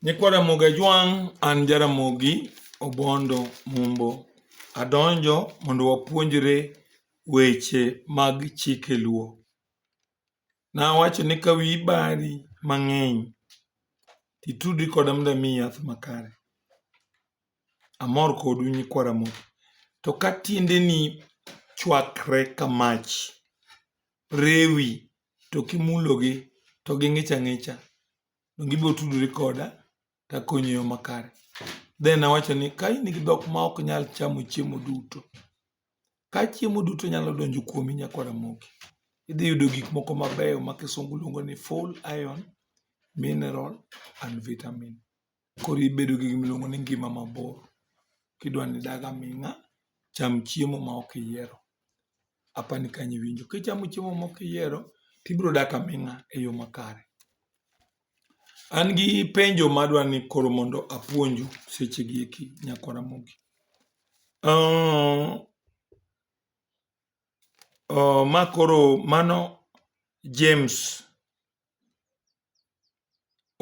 Nyikwa Ramogi Ajwang' an Jaramogi Obondo Mumbo. Adonjo mondo wapuonjre weche mag chike Luo. Nawacho ni ka wiyi bari mang'eny titudri koda mondo amiyi yath makare. Amor kodu nyikwa Ramogi. To ka tiendeni chwakre ka mach, rewi to kimulogi to ging'ich ang'icha to gibiro tudore koda to akonyi e yo makare. Then awacho ni ka in gi dhok ma ok nyal chamo chiemo duto, ka chiemo duto nyalo donjo kuomi Nyako Ramogi, idhi yudo gik moko mabeyo ma kisungu luongo ni full iron, mineral and vitamin. koro ibedo gi gima iluongo ni ngima mabor kidwa ni idag aming'a, cham chiemo ma ok iyiero. Apani kanyo iwinjo. Kichamo chiemo ma ok iyiero to ibiro dak aming'a e yo makare. An gi penjo ma adwa ni koro mondo apuonju seche gi eki Nyako Ramogi. Ma koro mano James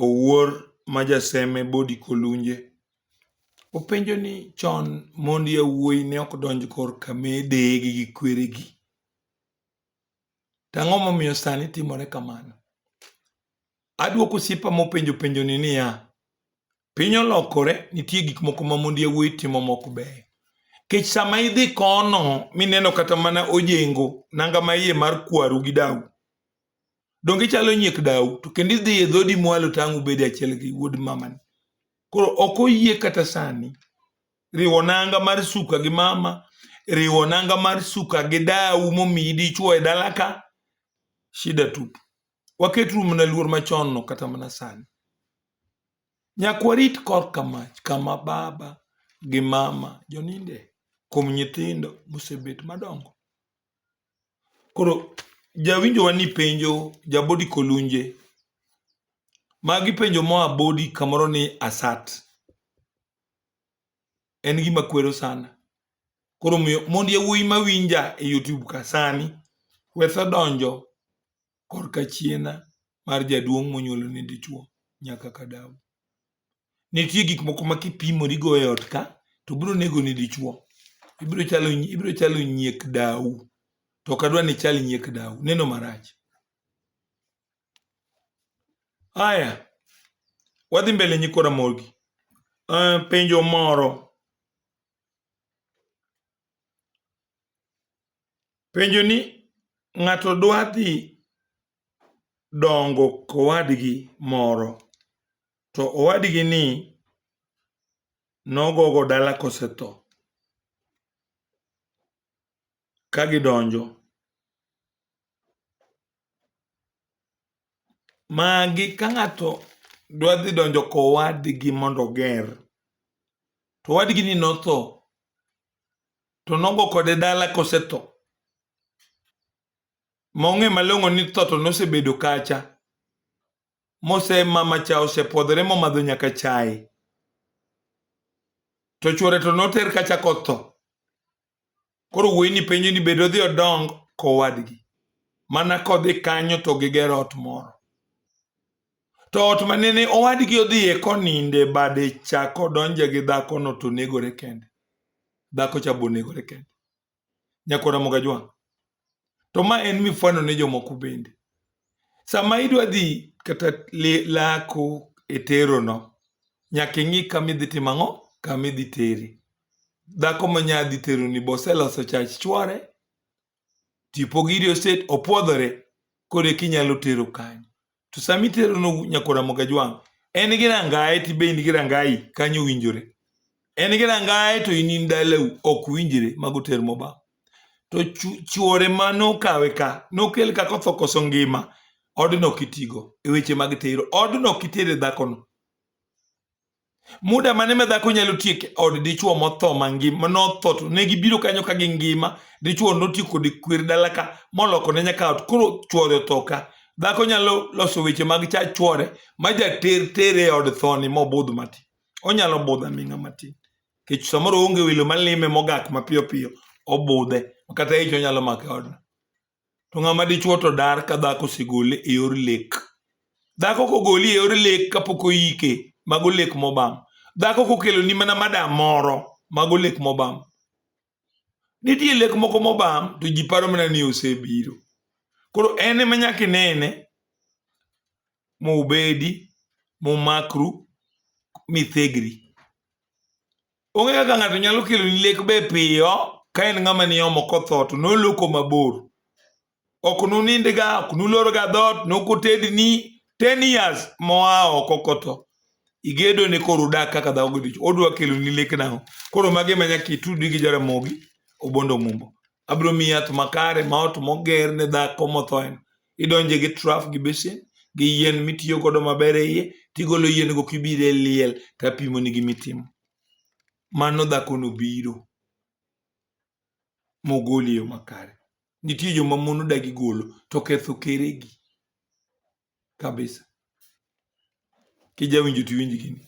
Owuor ma jaseme Body Kolunje openjo ni chon mond yawuoyi ne ok donj kor ka mideye gi gi kweregi. To ang'o momiyo sani timore kamano? Aduoko osiepa mopenjo penjo ni niya, piny olokore nitie gik moko ma mond yawuoyi timo mok beyo. Kech sama idhi kono mineno kata mana ojengo nanga ma iye mar kwaru gi dau, donge ichalo nyiek dau to kendo idhi e dhodi mwalo tang' ubedi achiel gi wuod mamani koro ok oyie kata sani riwo nanga mar suka gi mama riwo nanga mar suka gi dau momiyi dichuo e dala ka shida tup waket rum na luor machon no kata mana sani nyakwarit kor kamach kama baba gi mama joninde kuom nyithindo mosebet madongo Koro jawinjowa ni penjo jabodi kolunje magi penjo moa bodi kamoro ni asat en gima kwero sana koro miyo mond yawuoyi mawinja e youtube ka sani wetho donjo korka chiena mar jaduong' monyuolo ni dichwo nyaka ka daw. Nitie gik moko ma kipimori go e ot ka to biro nego ni dichwo. Ibiro chalo ibiro chalo nyiek daw. To ok adwa ni ichal nyiek daw. Neno marach. Haya, wadhi mbele nyikwa Ramogi. Uh, penjo moro. Penjo ni ng'ato dwa dhi dongo kowadgi moro to owadgi ni nogogo dala kosetho ka gidonjo. Magi ka ng'ato dwa dhi donjo kowadgi mondo oger to owadgi ni notho to nongo kode dala kosetho mong'e malong'o ni tho to nosebedo kacha mose mama cha osepwodhore momadho nyaka chai to chwore to noter kacha kotho koro wuoyi ni penjo ni bedo dhi odong kowadgi mana kodhi kanyo to gigero ot moro To ot ma nene owadgi odhiye koninde bade cha kodonje gi dhakono to negore kende. Dhako cha bo negore kende. Nyakora Mogajwang'. To ma en mifano ne jomoko bende. Sama idwa dhi kata lako e terono, nyaka ing'i kama idhi timo ang'o? Kama idhi teri. Dhako ma nya dhi teroni boseloso chach chwore, tipo giri oset opwodhore kode kinyalo tero kanyo to sama itero no nyakora mogajwang en gi rangaye ti be in gi rangayi kanyo winjore en gi rangaye to in in dalau ok winjre mago ter moba to chuore ma nokawe ka nokel ka kotho koso ngima odno kitigo e weche mag tero odno kitere dhakono muda mane ma dhako nyalo tiek od dichuo motho mangima notho to ne gibiro kanyo ka gi ngima dichuo notiek kod kwer dala ka moloko ne nyaka ot koro chuore otho ka dhako nyalo loso weche mag cha chuore ma jater tere e od thoni mobudh mati onyalo budho aming'a matin kech samoro onge welo malime mogak mapiyo piyo obudhe kata ich onyalo make odno to ng'ama dichuo to dar ka dhako osegole e yor lek dhako kogoli e yor lek kapok oyike mago lek mobam dhako kokeloni mana madam moro mago lek mobam nitie lek moko mobam to ji paro mana ni osebiro koro en ema nyaka inene mubedi mumakru mithegri Onge kaka ng'ato nyalo kelo ni lek be piyo ka en ng'ama ni omo kotho to noloko mabor. Ok nunindga, ok nulorga dhoot, nokotedni 10 years moa oko kotho. Igedo ni koro udak kaka dhako gi dichwo. Odwa kelo ni lek nang'o? Koro magi ema nyaka itudi gi Jaramogi Obondo Mumbo. Abiro miyi yath makare ma ot moger ne dhako motho en. idonje gi trough gi basin gi yien mitiyo godo maber e iye tigolo yien go kibiro e liel tapimo ni gimitimo mano dhakono biro mogoli e yo makare nitie joma mon odagi golo to ketho keregi kabisa kijawinjo to iwinj gini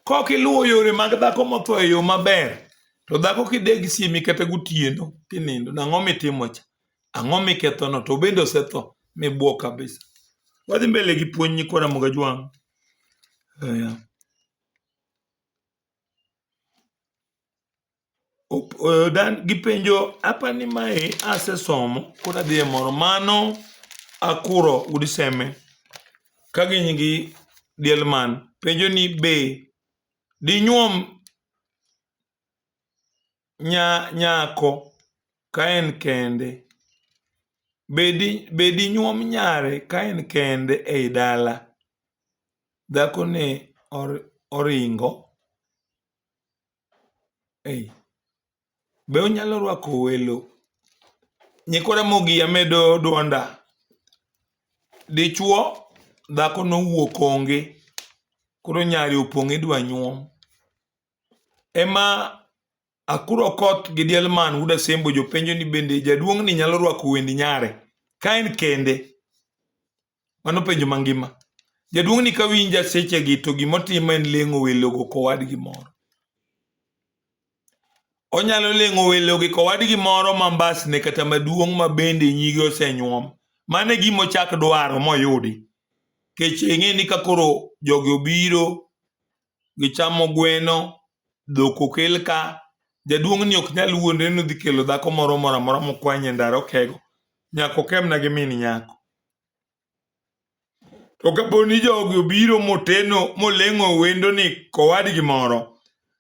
kok iluwo yore mag dhako motho e yo maber to dhako kideg siemi kata gotieno kinindo nang'o mitimo cha ang'o mikethono to bende osetho mibuo kabisa wadhi mbele gi puonj nyikwa Ramogi Ajwang' Oya. gipenjo apa ni mae asesomo koro adhi e moro mano akuro udi seme ka gin gi diel man penjo ni be dinyuom nyako ka en kende, be dinyuom nyare ka en kende ei dala, dhakoni oringo. Ei. Be onyalo rwako welo? Nyikwa Ramogi amedo dwonda. Dichwo dhako nowuok onge, koro nyari opong' idwa nyuom. Ema Akuro Koth gi Dielman Wuod Asembo jopenjo ni bende jaduong'ni nyalo rwako wend nyare ka en kende? Mano penjo mangima. Jaduong' ni ka winja sechegi to gimotimo en leng'o welogo kowadgi moro. Onyalo leng'o welogi kowadgi moro ma mbasne kata maduong' ma bende nyige osenyuom. Mano e gima ochak dwaro moyudi. Kech eng'e ni ka koro jogi obiro gichamo gweno, dhok okel ka, jaduong' ni ok nyal wuondre ni odhi kelo dhako moro moro amora mokwany e ndara okego, nyaka okemna gi min nyako. To kapo ni jogi obiro moteno moleng'o wendo ni kowadgi moro,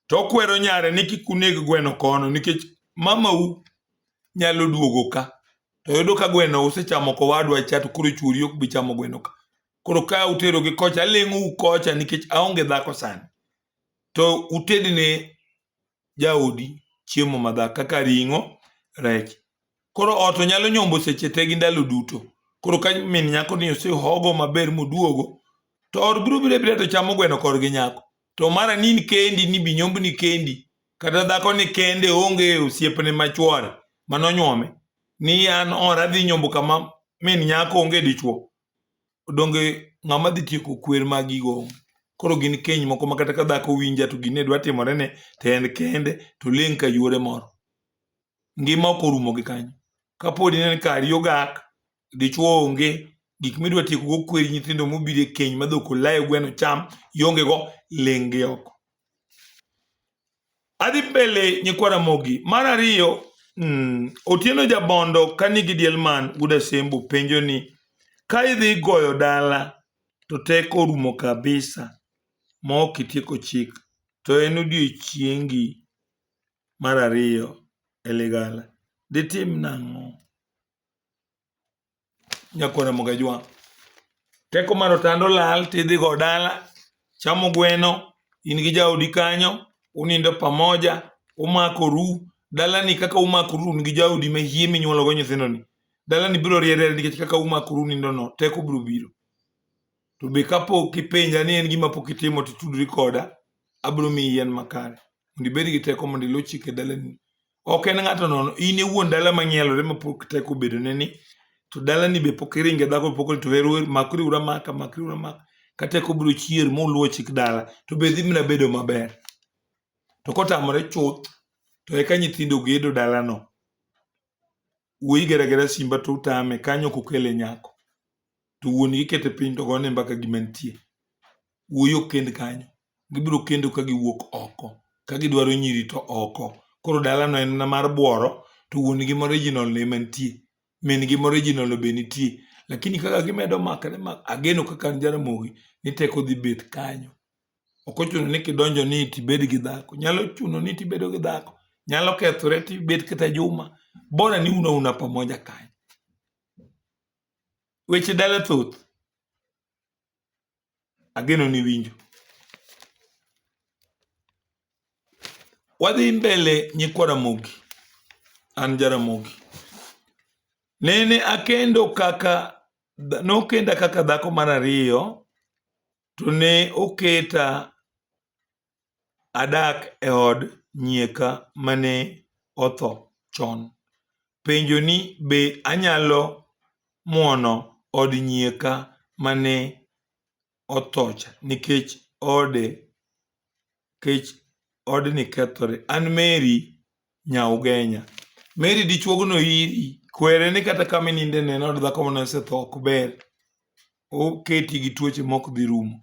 to okwero nyare ni kik uneg gweno kono nikech mamau nyalo duogo ka to yudo ka gweno usechamo kowadwa cha to koro chuori ok bi chamo gweno ka. koro ka uterogi kocha aleng'ou kocha nikech aonge dhako sani to utedne jaodi chiemo madhak kaka ring'o rech koro ot onyalo nyombo seche te gi ndalo duto koro ka min nyako ni osehogo maber moduogo to ot biro biro biro to chamo gweno kor gi nyako to mara ni kendi ni binyombni kendi kata dhako ni kende onge osiepne machwore manonyuome ni an ora dhi nyombo kama min nyako onge dichuo donge ng'ama dhi tieko kwer magigo koro gin keny moko makata ka dhako winja to gine dwa timore ne to en kende to ling' ka yuore moro ngima ok orumo gi kanyo kapodi nen kari ogak dichuo onge gik midwa tieko go kweri nyithindo mobiro e keny madhok olayo gweno cham ionge go ling' gi oko Adhi mbele nyikwa Ramogi. Mar ariyo, mm, Otieno Jabondo ka nigi diel man Guda Sembo penjo ni ka idhi goyo dala to teko orumo kabisa ma ok itieko chik to en odiechiengi mar ariyo e ligala. Ditim nang'o? nyakwara mogajwa teko mar otando lal tidhi go dala chamo gweno in gi jaodi kanyo unindo pamoja umakoru dalani kaka umakoru un gi jaodi ma hie minyuologo nyithindoni dalani biro riere nikech kaka umakoru nindono teko biro biro to be kapok ipenja ni en gima pok itimo titudri koda abiro miyi yien makare mondo ibed gi teko mondo iluw chike dalani ok en ng'ato nono in iwuon dala mang'ielore mapok teko obedone ni to dalani be pok iringe dhako pok to hero makri ura maka makri ura maka ka teko biro chier moluwo chik dala to be dhi mna bedo maber to kotamore chuth to eka nyithindo gedo dalano wuoyi geragera simba to utame kanyo kokele nyako to wuon gi kete piny to gone mbaka gima nitie wuoyi ok kend kanyo. Gibiro kendo ka giwuok oko. Ka gidwaro nyiri to oko. Koro dalano en na mar bworo to wuon gi moriginal no ema nitie. Min gi moriginal no be nitie. Lakini kaka gimedo makre ma ageno kaka an Jaramogi ni teko dhi bet kanyo. Ok ochuno ni kidonjo ni tibed gi dhako. Nyalo chuno ni tibedo gi dhako. Nyalo kethore tibet kata juma. Bora ni uno una pamoja kanyo. Weche dala thoth. Ageno ni winjo. Wadhi mbele nyikwa Ramogi. An Jaramogi. Nene akendo kaka nokenda kaka dhako mar ariyo to ne oketa adak e od nyieka mane otho chon. Penjo ni be anyalo muono od nyieka mane othocha nikech ode nikech odni kethore. An Mary Nyaugenya. Mary dichuogno iri kwere ni kata kama ininde ne en od dhako mane osetho ok ber. Oketi gi tuoche mok dhi rumo.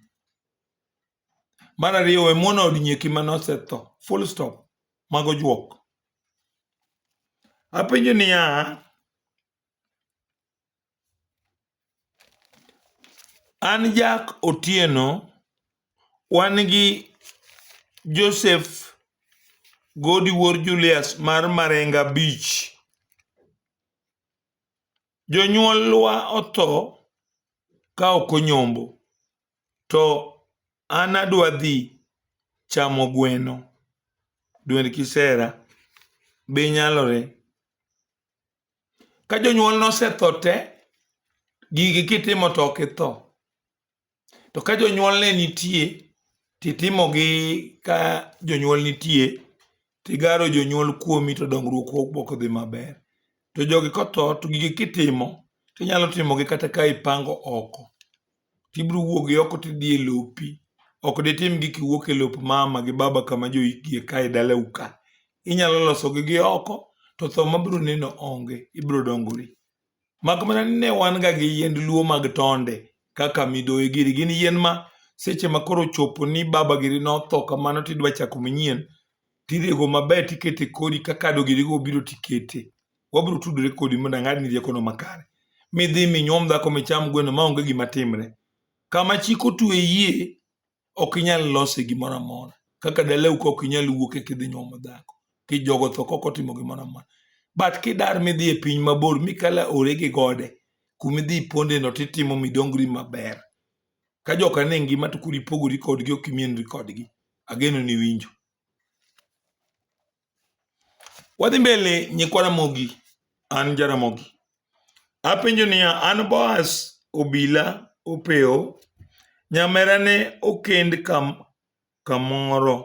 Mar ariyo, we muono od nyieki mane osetho. Full stop. Mago juok. Apenjo niya, an Jack Otieno, wan gi Joseph Godi Wuor Julius mar Marenga Beach. Jonyuolwa otho ka ok onyombo. to an adwa dhi chamo gweno, dwend kisera, be nyalore? Ka jonyuol nosetho te, gigi kitimo to ok itho. To ka jonyuol ne nitie, titimogi ka jonyuol nitie, tigaro jonyuol kuomi to dongruok ok dhi maber. To jogi kotho to gigi kitimo tinyalo timogi kata ka ipango oko. Tibiro wuok gi oko tidhi e lopi. Ok ditim gi kiwuok e lop mama gi baba kama joikgi ka e dalau ka. Inyalo losogi gi oko to tho mabiro neno onge. Ibiro dongori. Mak mana ni ne wan ga gi yiend luo mag tonde kaka midoyi giri. Gin yien ma seche ma koro ochopo ni baba giri notho kamano tidwa chako manyien, tirego maber tikete kodi ka kado girigo obiro tikete. Wabiro tudore kodi mondo ang'adni riekono makare. Midhi minyuom dhako micham gweno maonge gima timre. Kama chik otwe yie, ok inyal lose gimoro amora kaka dalau ka ok inyal wuok e kidhi nyuomo dhako kijogo tho kok otimo gimoro amora but kidar midhi e piny mabor mikala ore gi gode kumidhi pondeno titimo midongri maber ka joka ne ngima to kuri pogori kodgi ok imienri kodgi ageno ni winjo Wadhi mbele nyikwa Ramogi, an Jaramogi. Apenjo niya, an Boaz obila opewo, nyamera ne okend kam, kamoro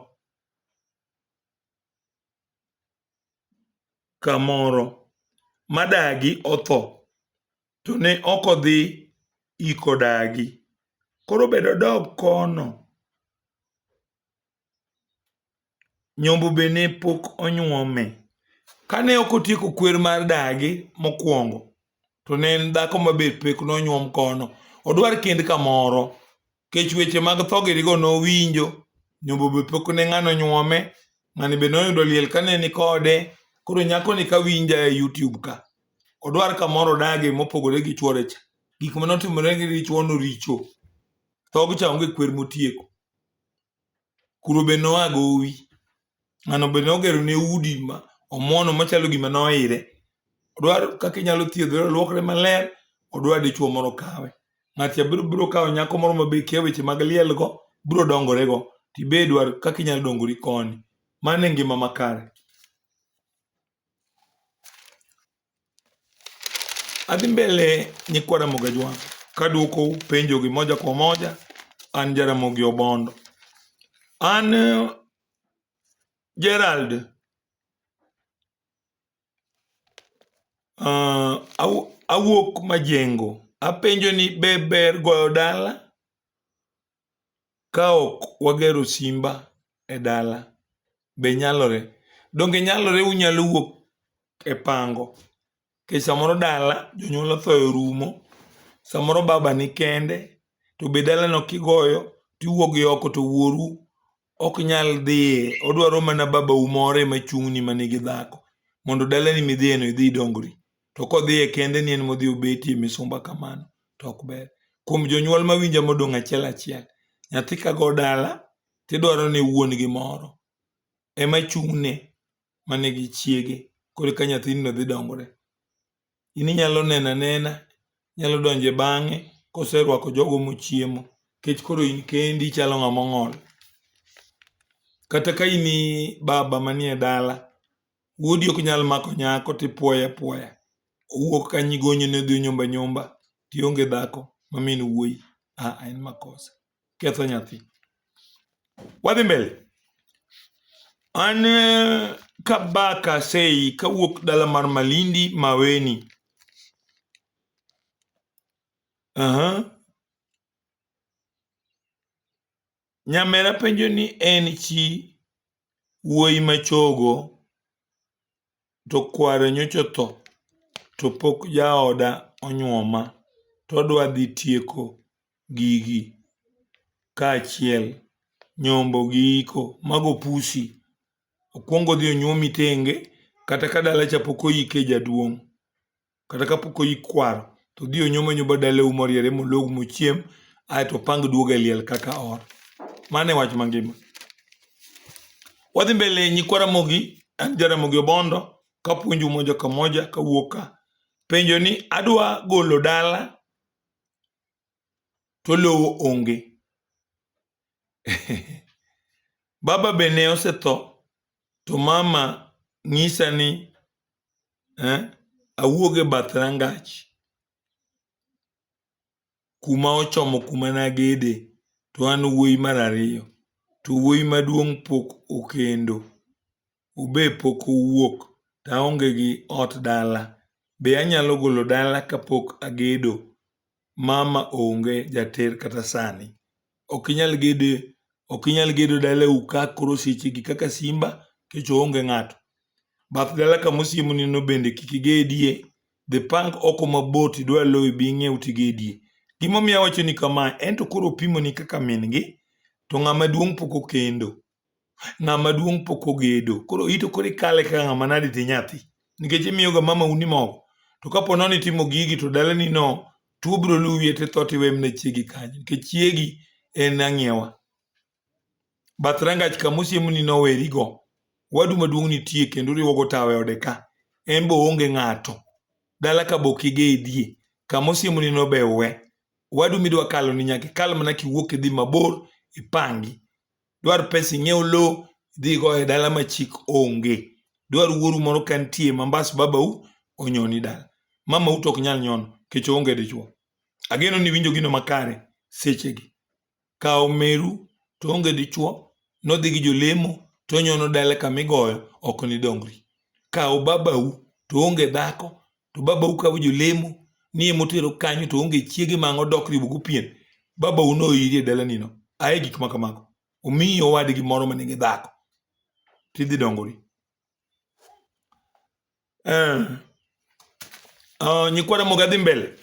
kamoro madagi otho, to ne ok odhi iko dagi. Koro bedo dog kono nyombo be ne pok onyuome. Kane ok otieko kwer mar dagi mokwongo, to ne en dhako ma be pek nonyuom kono. Odwar kend kamoro, kech weche mag tho girigo nowinjo, nyombo be pok ne ng'ano nyuome, ng'ani be noyudo liel kane ni kode. Koro nyakoni ka winja e YouTube ka, odwar kamoro odage mopogore gi chwore cha. Gik mane otimore gi dichwono richo. Thog cha onge kwer motieko. kuro be noa gowi ng'ano be nogero ne udi ma omono machalo gima noire odwaro kaka inyalo thiedhore olwokre maler odwa dichuo moro kawe ng'at cha biro biro kawo nyako moro ma be kia weche mag lielgo biro dongorego tibe dwar kaka inyalo dongori koni mano e ngima makare Adhi mbele nyikwa Ramogi Ajwang' kaduoko penjogi moja kwa moja. An Jaramogi Obondo, an eh, Gerald uh, awuok Majengo. Apenjo ni be ber goyo dala kaok wagero simba e dala be nyalore? Donge nyalore unyalo wuok e pango nikech samoro dala jonyuol otho orumo, samoro baba nikende to be dalano kigoyo to iwuok gi oko to wuoru ok nyal dhiye odwaro mana babau moro ema chung'ni ma nigi dhako mondo dalani midhiyeno idhi idongri to kodhiye kende ni en modhi obetie misumba kamano to ok ber kuom jonyuol mawinja modong' achiel achiel nyathi kago dala tidwaro ni wuon gi moro ema chung'ne manigi chiege koro ka nyathino dhi dongore in inyalo neno anena, inyalo donjo e bang'e koserwako jogo mochiemo nikech koro in kendi ichalo ng'ama ong'ol. Kata ka in baba manie dala, wuodi ok nyal mako nyako tipwoye apwoya, owuok kanyo igonyone odhi onyomba anyomba tionge dhako ma min wuoyi, ah en makosa. ketho nyathi wadhi mbele an eh, kabaka sei kawuok dala mar malindi maweni aha uh -huh. Nyamera penjo ni en chi wuoyi machogo to kware nyocha otho to pok jaoda onyuoma to odwa dhi tieko gigi kaachiel, nyombo gi iko. Mago pusi. Okuong odhi onyuomi tenge kata ka dala cha pok oike jaduong'. kata kapok oyik kwaro to dhi onyoma nyoba dalau moriere molog mochiem ae to pang duoga e liel kaka or mano e wach mangima wadhi mbele nyikwa ramogi an jaramogi obondo kapuonju moja ka moja kawuok ka penjo ni adwa golo dala to lowo onge baba be ne osetho to mama nyisa ni eh, awuog e bath rangach kuma ochomo kuma nagede to an wuoyi mar ariyo to wuoyi maduong' pok okendo ube pok owuok to aonge gi ot dala, be anyalo golo dala kapok agedo? Mama onge jater kata sani. Ok inyal gedo, ok inyal gedo dalau ka koro sechegi kaka simba kech oonge ng'ato. Bath dala kama osiemoni no bende kik igedie, dhi pang oko mabor to idwa lowo ibi ing'iew to igedie. Gimomiyo awachoni kama, en to koro opimoni kaka min gi, to ng'ama duong' pok okendo. ng'ama duong' pok ogedo koro ito koro ikale kaka ng'ama nade ti nyathi nikech imiyoga mama uni mogo to kapo nono itimo gigi to dalani no tuo biro luwi to itho tiwe mne chiegi kanyo nikech chiegi en ang'iewa bath rangach kama osiemoni nowerigo wadu maduong' nitie kendo uriwogo tawe ode ka en be oonge ng'ato dala ka bok igedie kama osiemoni no be uwe wadu midwa kaloni nyaka ikal mana kiwuok idhi mabor ipangi dwar pesa ing'iew lowo idhigo e dala ma chik onge dwar wuoru moro ka nitie mambas babau onyoni dala mamau to ok nyal nyono kech oonge dichuo ageno ni winjo gino makare sechegi kawo meru to onge dichuo nodhi gi jolemo to onyono dala kama igoyo ok nidongri kawo babau to onge dhako to baba ukawo jolemo ni emotero kanyo to onge chiege mang' odok riwo go pien baba uno iri e dala nino aye gik ma kamago omiyi owadgi moro ma nigi dhako tidhi dongori eh. uh, nyikwara moga dhi mbele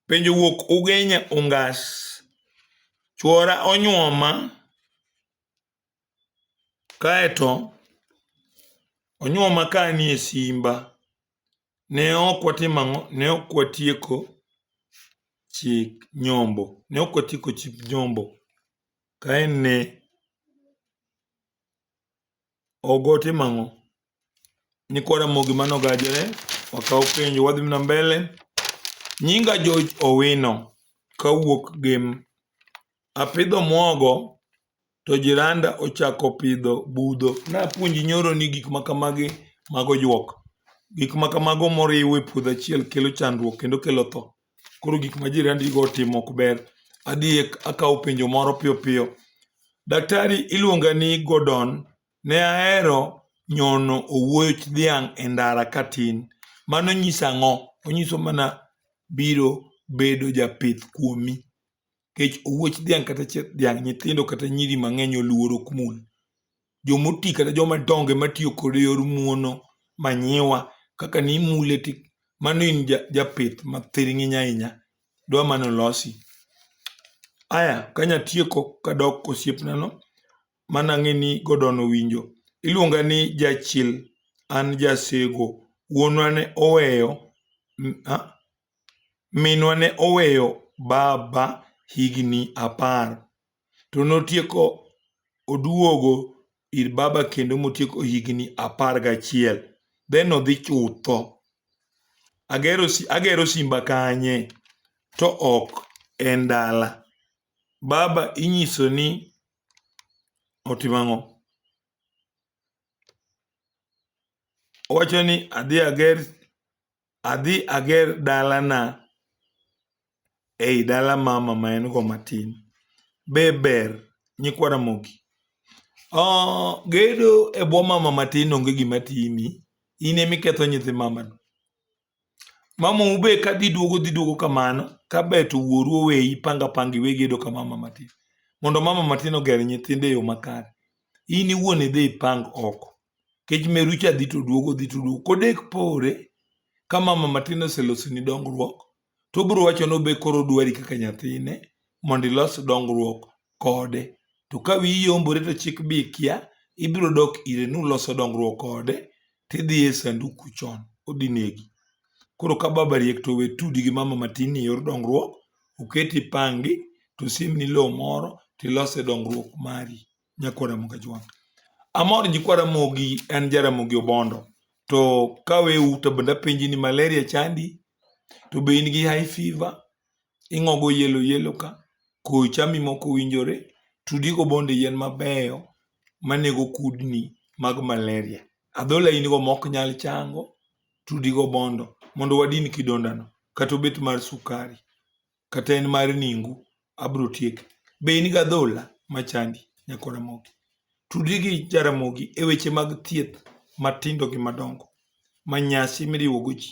penjo wuok ugenya ungas chuora onyuoma Kaeto onyuoma ka anie simba. Ne ok watimo ang'o, ne ok watieko chik nyombo, ne ok watieko chik nyombo kaen ne ok otimo ang'o? Nyikwa Ramogi mano gajore, wakawo penjo wadhi mna mbele. Nyinga George Owino kawuok Gem. Apidho mwogo to jiranda ochako pidho budho. Napuonji nyoro ni gik makamagi mago juok. Gik makamago moriw e puodho achiel kelo chandruok kendo kelo tho. Koro gik ma jirandigo otimo ok ber. Adhi akawo penjo moro piyo piyo. Daktari iluonga ni Gordon Ne ahero nyono owuoch dhiang' e ndara katin. Mano nyiso ang'o? Onyiso mana biro bedo japith kuomi. Nikech owuoch dhiang' kata chieth dhiang' nyithindo kata nyiri mang'eny oluoro ok mul. Jomoti kata joma dongo ema tiyo kode e yor muono, manyiwa. Kaka ni imule ti mano in japith ma thiring'iny ahinya. Dwa mana olosi. Aya kanya tieko kadok kosiepna no, mana ng'eni godono winjo. Iluonga ni jachil, an jasego. Wuonwa ne oweyo, minwa ne oweyo baba higni apar. To notieko oduogo ir baba kendo motieko higni apar gachiel. Then odhi chutho. Agero agero simba kanye to ok en dala. Baba inyiso ni otimo ang'o? Owacho ni adhi ager adhi ager dalana ei dala mama ma en go matin. Be ber nyikwa Ramogi? Uh, gedo e bwo mama matin onge gima timi, in emiketho nyithi mamano. Mamau be ka dhi duogo dhi duogo kamano ka ber to wuoru oweyi panga panga iwegi yudo ka mama matin. Mondo mama matin oger nyithinde e yo makare. In iwuon idhi ipang oko. Kech meru cha dhi to duogo dhi to duogo. Kodek pore ka mama matin oselosoni dongruok to obiro wacho ni obe koro odwari kaka nyathine mondo ilos dongruok kode. To ka wiyi yombore to chik bi ikia, ibiro dok ire ni uloso dongruok kode, tidhi e sanduku chon, odhi negi. Koro ka baba riek to we tudi gi mama matin e yor dongruok, oketi ipangi, to simni lowo moro, tilose dongruok mari. Nyakwa Ramogi Ajwang'. Amor nyikwa Ramogi en Jaramogi Obondo. To kawe uta bende apenji ni malaria chandi, to be in gi high fever, ing'ogo yelo yelo ka, koyo chami mok owinjore, tudi go bonde yien mabeyo manego kudni mag malaria. Adhola in go mok nyal chango, tudi go bondo mondo wadin kidonda no. Kata obed mar sukari, kata en mar ningu, abiro tieke. Be in gi adhola machandi nyako Ramogi? Tudi gi Jaramogi e weche mag thieth matindo gi madongo ma nyasi miriwo go ji.